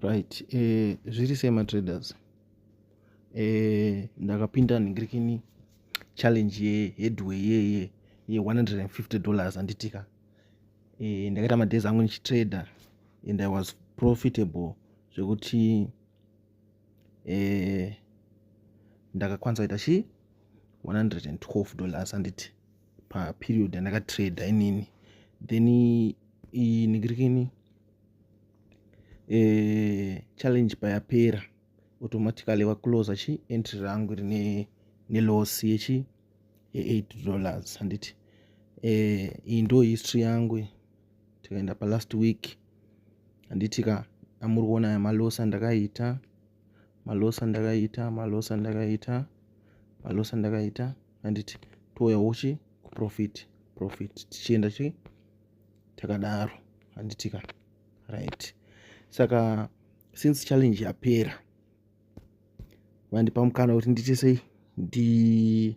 right eh, zviri sei matraders eh, ndakapinda ningirikini challenge ye headway yeye ye 150 dollars anditika eh, ndakaita madays angu ndichitrader and i was profitable zvekuti eh, ndakakwanisa kuita chii 112 dollars anditi paperiod yandakatrader inini then inigirikini eh, challenge payapera automatically vacloser chi entry rangu rine neloss yechi ye8 dollars handiti eh, iyi ndo history yangu tikaenda palast week handiti ka amuri kuona aya maloss andakaita maloss andakaita maloss andakaita maloss andakaita handiti touyawo chi kuprofit profit tichienda chi takadaro handitika right saka since challenge yapera vandipa mukana kuti ndiite sei ndi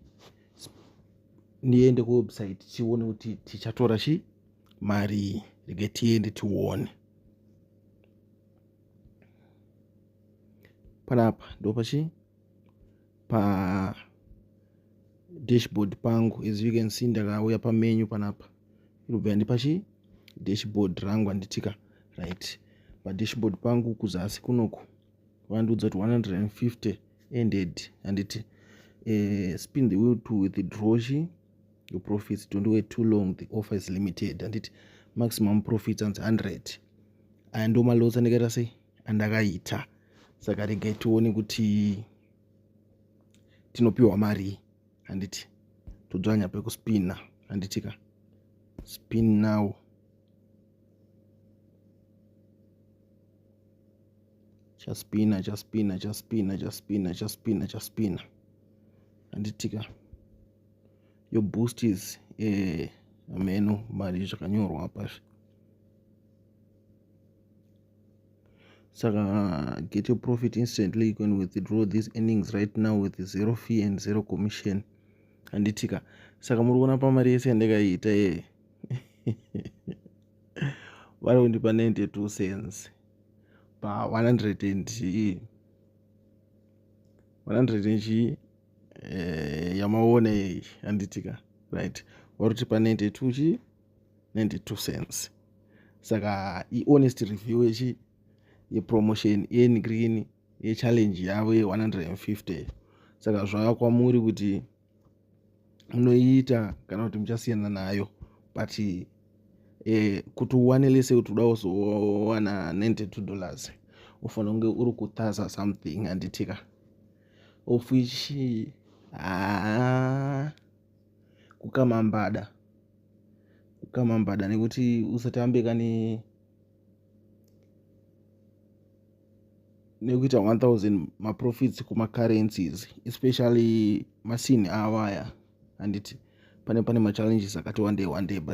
ndiende kuwebsite tione kuti tichatora chi mari rege tiende tione panapa ndopachi pa dashboard pangu as you can see ndakauya pamenyu panapa irikubva yandipa chi dashboard rangu anditika right padashboard pangu kuzasi kunoku vandiudza kuti 150 ended handiti uh, spin the wheel to withdraw chi your profits don't wait too long the offer is limited handiti maximum profits anzi 100 aya ndomalots andikaita sei andakaita saka regai tione kuti tinopiwa marii handiti todzvanya pekuspina handiti ka spin now chaspina chaspina chaspina chaspina chaspina chaspina handiti ka yo boost is eh, ameno mari zvakanyorwa pazvi saka uh, get your profit instantly you can withdraw these earnings right now with zero fee and zero commission handitika saka muri kuona pamari yese yandakaiita yeye vari kundipa 92 cents pa 100 and chii 100 and chii eh, yamaona yei handitika right vari kuti pa 92 chii 92 cents saka ihonest review yechi yepromotion yenigreen yechallenge yavo ye150 saka zvava kwamuri kuti munoiita kana kuti muchasiyana nayo but eh, kuti uwane lese kuti uda uzowana 92 dollars ufanira kunge uri kutaza something handitika of which haa ah, kukama mbada kukama mbada nekuti usatambe kane nekuita 1000 maprofits kumacurrencies especially masini awaya handiti pane pane machallenges akati wandei wandei but